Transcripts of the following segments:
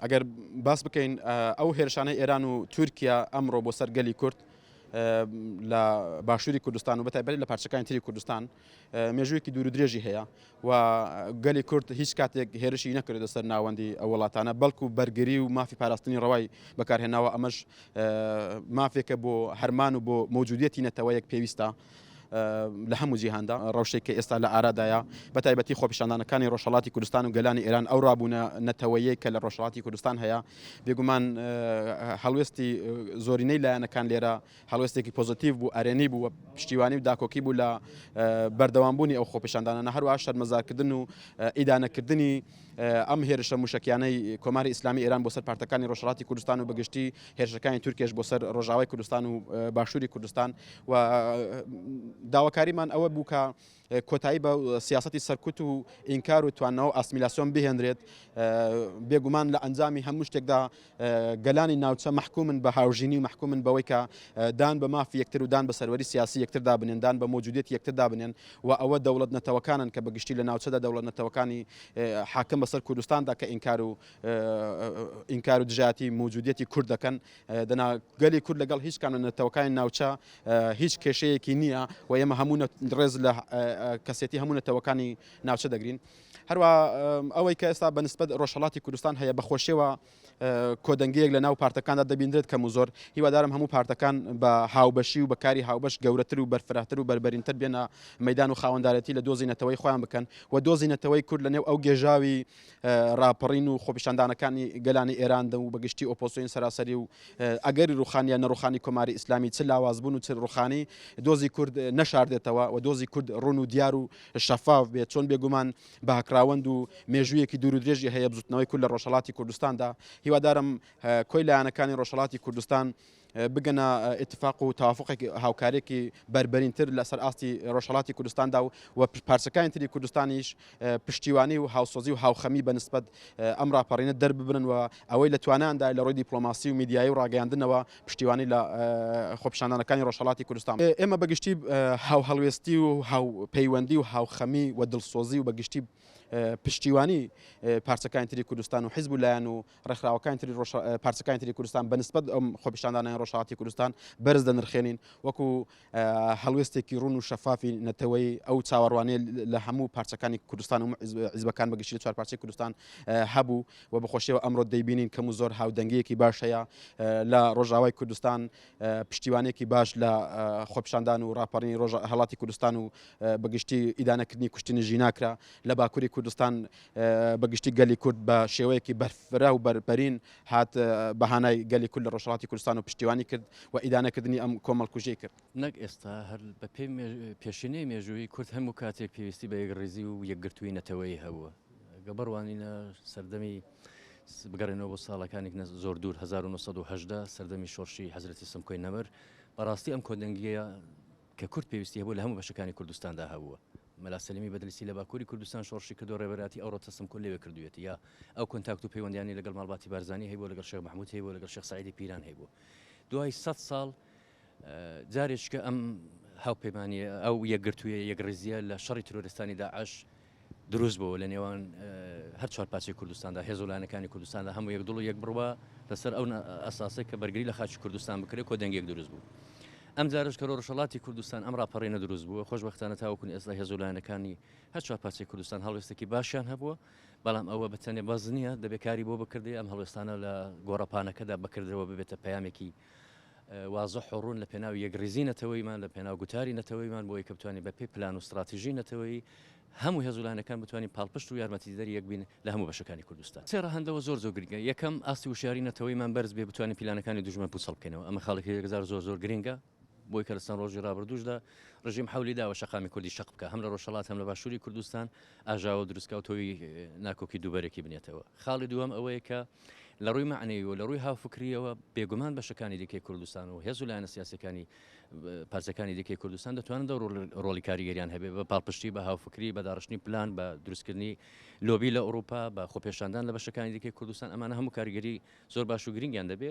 ئەگەر باس بکەین ئەو هێرشانەی ئێران و تورکیا ئەمڕۆ بۆ سەر گەلی کورد لە باشووری کوردستان و بەتایبەت لە پارچەکانی تری کوردستان مێژوویەکی دوور و درێژی هەیە و گەلی کورد هیچ کاتێک هێرشی نەکردە سەر ناوەندی ئەو وڵاتانە بەڵکو بەرگری و مافی پاراستنی ڕەوای بەکارهێناوە ئەمەش مافێکە بۆ هەرمان و بۆ مەوجودیەتی نەتەوەیەک پێویستە لە هەموو جیهاندا ڕەوشێک کە ئێستا لە ئارادایە بە تایبەتی خۆپیشاندانەکانی ڕۆژهڵاتی کوردستان و گەلانی ئێران ئەو ڕابوونە نەتەوەیەک کە لە ڕۆژهڵاتی کوردستان هەیە بێگومان هەڵوێستی زۆرینەی لایەنەکان لێرە هەڵوێستێکی پۆزتیو بوو ئەرێنی بوو پشتیوانی و داکۆکی بوو لە بەردەوامبوونی ئەو خۆپیشاندانە هەروە شەرمەزارکردن و ئیدانەکردنی ئەم هێرشە مووشەکیانەی کۆماری ئیسلامی ئێران بۆ سەر پارتەکانی ڕۆژهەڵاتی کوردستان و بەگشتی هێرشەکانی تورکێش بۆ سەر ڕۆژاوای کوردستان و باشووری کوردستان و داواکاریمان ئەوە بوو کە کۆتایی بە سیاستی سەرکوت و ئینکار و توانەوە ئاسمیلاسیۆن بهێنرێت بێگومان لە ئەنجامی هەموو شتێکدا گەلانی ناوچە مەحکومن بە هاوژینی و مەحکومن بەوەی کە دان بە مافی یەکتر و دان بە سەروەری سیاسی یەکتردا بنێن دان بە مۆجودیەتی یەکتردا بنێن و ئەوە دەوڵەت نەتەوەکانن کە بە گشتی لە ناوچەدا دەوڵەت نەتەوەکانی حاکم بەسەر کوردستاندا کە ئینکار و ئینکار و دژایەتی مۆجودیەتی کورد دەکەن دەنا گەلی کورد لەگەڵ هیچ کام لە نەتەوەکانی ناوچە هیچ کێشەیەکی نییە و ئێمە هەموو ڕێز لە کەسێتی هەموو نەتەوەکانی ناوچە دەگرین هەروەها ئەوەی کە ئێستا بەنسبەت ڕۆژهەڵاتی کوردستان هەیە بەخۆشیەوە کۆدەنگەیەک لە ناو پارتەکاندا دەبیندرێت کەم و زۆر هیوادارم هەموو پارتەکان بە هاوبەشی و بەکاری هاوبەش گەورەتر و بەرفراهتر و بەربەرینتر بێنە مەدان و خاوەندارەتی لە دۆزی نەتەوەی خۆیان بکەن و دۆزی نەتەوەی کورد لە نێو ئەو گێژاوی راپەڕین و خۆپیشاندانەکانی گەلانی ئێراندا و بەگشتی ئۆپۆسیۆن سەراسەری و ئەگەری ڕوخانیان نەڕوخانی کۆماری ئیسلامی چ لاوازبوون و چ ڕوخانی دۆزی کورد نەشاردێتەوە و دۆزی کورد ڕون و دیار و شەفاف بێت، چۆن بێگومان باکراوەند و مێژوویەکی دوور و درێژی هەیە بزوتنەوەی کورد لە ڕۆژهەڵاتی کوردستاندا، هیوادارم کۆی لایەنەکانی ڕۆژهەڵاتی کوردستان بگەنە ئیتفاق و تەوافوقێک هاوکاریێکی بەربەرینتر لەسەر ئاستی ڕۆژهڵاتی کوردستاندا و و پارچەکانی تری کوردستانیش پشتیوانی و هاوسۆزی و هاوخەمی بەنسبت ئەم راپەڕینە دەرببرن و ئەوەی لە تواناندا لە ڕۆی دیپلۆماسی و میدیایی و ڕاگەیاندنەوە پشتیوانی لە خۆپیشاندانەکانی ڕۆژهەڵاتی کوردستان. ئێمە بە گشتی هاوهەڵوێستی و هاوپەیوەندی و هاوخەمی و دڵسۆزی و بە گشتی پشتیوانی پارچەکانی تری کوردستان و حیزب و لایەن و ڕێکخراوەکانی تری پارچەکانی تری کوردستان بە نسبەت ئەم خۆپیشاندانەی ڕۆژهەڵاتی کوردستان بەرز دەنرخێنین وەکو هەڵوێستێکی ڕوون و شەفافی نەتەوەی ئەو چاوەڕوانێ لە هەموو پارچەکانی کوردستان و عزبەکان بەگشتی لە چوار پارچەی کوردستان هەبوو و بەخۆشیەوە ئەمڕۆ دەیبینین کەم و زۆر هاودەنگیەکی باش هەیە لە ڕۆژاوای کوردستان پشتیوانێکی باش لە خۆپشاندان و ڕاپەڕینی ڕۆژ هەڵاتی کوردستان و بەگشتی ئیدانەکردنی کوشتنی ژیناکرا لە باکووری کوردستان بەگشتی گەلی کورد بە شێوەیەکی بەرفرا و بەرپەرین هات بەهانای گەلی کورد لە ڕۆژهەڵاتی کوردستان و پشتیوانی کرد و ئیدانەکردنی ئەم کۆمەڵکوژیەی کرد. نەک ئێستا هەر بە پێی پێشینەی مێژوویی کورد هەموو کاتێک پێویستی بە یەکڕیزی و یەکگرتووی نەتەوەیی هەبووە. گە بڕوانینە سەردەمی بگەڕێنەوە بۆ ساڵەکانی نە زۆر دوور 1970 سەردەمی شۆڕشی حەزرەتی سمکۆی نەمر بەڕاستی ئەم کۆدەنگیە کە کورد پێویستی هەبوو لە هەموو بەشەکانی کوردستاندا هەبووە. مەلا سەلیمی بەدلیسی لە باکووری کوردستان شۆڕشی کردووە، ڕێبەرایەتی ئەوڕۆ تەسلم کۆل لەوێ کردوویەتی. یا ئەو کۆنتاکت و پەیوەندییانەی لەگەڵ ماڵباتی بارزانی هەیبووە، لەگەڵ شێخ مەحموود هەیبووە، لەگەڵ شێخ سەعیدی پیران هەیبووە. دوای سەد ساڵ جارێچکە ئەم هاوپەیمانییە، ئەو یەکگرتوویە، یەکڕیزییە لە شەڕی ترۆریستانی داعش دروست بۆوە لە نێوان هەر چوار پارچەی کوردستاندا هێز و لایەنەکانی کوردستاندا هەموو یەک دڵ و یەک بڕوا لەسەر ئەو ئەساسەی کە بەرگری لە خاچی کوردستان بکرێت کۆ دەنگێک دروست بوو ئەم جارش کە ڕۆژەڵاتی کوردستان ئەم ڕاپەڕینە دروست بووە خۆشببختانە تاوەکون ئێستا هێز و لایەنەکانی هەر چوار پارچەی کوردستان هەڵوێستێکی باشیان هەبووە بەڵام ئەوە بەتەنێ بەز نییە دەبێت کاری بۆ بکردی ئەم هەڵوێستانە لە گۆڕەپانەکەدا بکردەوە ببێتە پەیامێکی وازح و ڕوون لە پێناو یەکڕیزی نەتەوەییمان، لە پێناو گوتاری نەتەوەییمان بۆ ئەوەی کە بتوانین بە پێی پلان و ستڕاتیژی نەتەوەیی هەموو هێز و لایەنەکان بتوانین پاڵپشت و یارمەتیدەری یەک بین لە هەموو بەشەکانی کوردستان. سێ ڕەهەند لەوە زۆر زۆر گرنگە، یەکەم، ئاستی وشیاریی نەتەوەییمان بەرز بێ بتوانین پیلانەکانی دوژمن پووچەڵ بکەینەوە، ئەمە خاڵێکی یەکجار زۆر زۆر گرنگە، بۆ ئەوەی کە لە چەند ڕۆژی ڕابردووشدا ڕژیم حەولی داوە شەقامی کوردی شەق بکا هەم لە ڕۆژهەڵات هەم لە باشووری کوردستان، ئاژاوە و دروستکاو تۆوی ناکۆکی دووبەرەکی بنێتەوە. خاڵی دووەم ئەوەیە کە لە ڕووی مەعنەوی و لە ڕووی هاوفکرییەوە بێگومان بەشەکانی دیکەی کوردستان و هێز و لایەنە سیاسییەکانی پارچەکانی دیکەی کوردستان دەتوانن دە ڕۆڵی کاریگەریان هەبێ بە پاڵپشتی بە هاوفکری بە داڕشتنی پلان بە دروستکردنی لۆبی لە ئەوروپا بە خۆپێشاندان لە بەشەکانی دیکەی کوردستان ئەمانە هەموو کاریگەری زۆر باش و گرنگیان دەبێ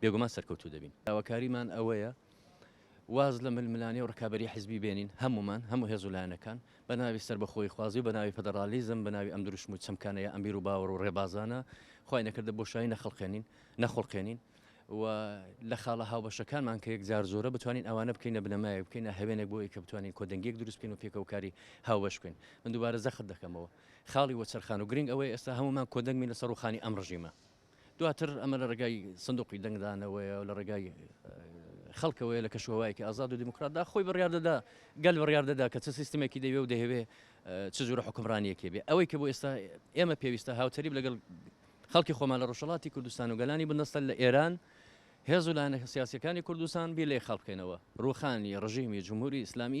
بێگومان سەرکەوتوو دەبین. داواکاریمان ئەوەیە واز لە ململانێ و ڕکابەری حزبی بێنین، هەموومان، هەموو هێز و لایەنەکان، بە ناوی سەربەخۆییخوازی و بە ناوی فەدەڕالیزم، بە ناوی ئەم دروشم و چەمکانەیە، ئەم بیر و باوەڕ و ڕێبازانە، خوای نەکردە بۆشایی نەخڵقێنین، نەخوڵقێنین و لە خاڵە هاوبەشەکانمان کە یەکجار زۆرە، بتوانین ئەوانە بکەینە بنەمایەک، بکەینە هەوێنێک بۆ ئەوەی کە بتوانین کۆدەنگییەک دروست بکەین و پێکەوە کاری هاوبەش بکەین. من دووبارە جەخت دەکەمەوە، خاڵی وەچەرخان و گرنگ ئەوەیە ئێستا هەموومان کۆدەنگ بین لەسەر ڕووخانی ئەم ڕژیمە. دواتر ئەمە لە ڕێگای سندوقی دەنگدانەوەیە و لە ڕێگای خەڵکەوەیە لە کەشوهوایەکی ئازاد و دیموکراتدا خۆی بڕیار دەدا گەل بڕیار دەدا کە چ سیستمێکی دەوێ و دەهەوێ چ جورە حکمڕانیەکێ بێ ئەوەی کە بۆ ئێستا ئێمە پێویستە هاوتەریب لەگەڵ خەڵکی خۆمان لە ڕۆژەڵاتی کوردستان و گەلانی بندەستە لە ئێران هێز و لایەنە سیاسەکانی کوردستان بیر لێ خەڵکەنەوە ڕوخانی ڕژیمی جمهوری ئیسلامی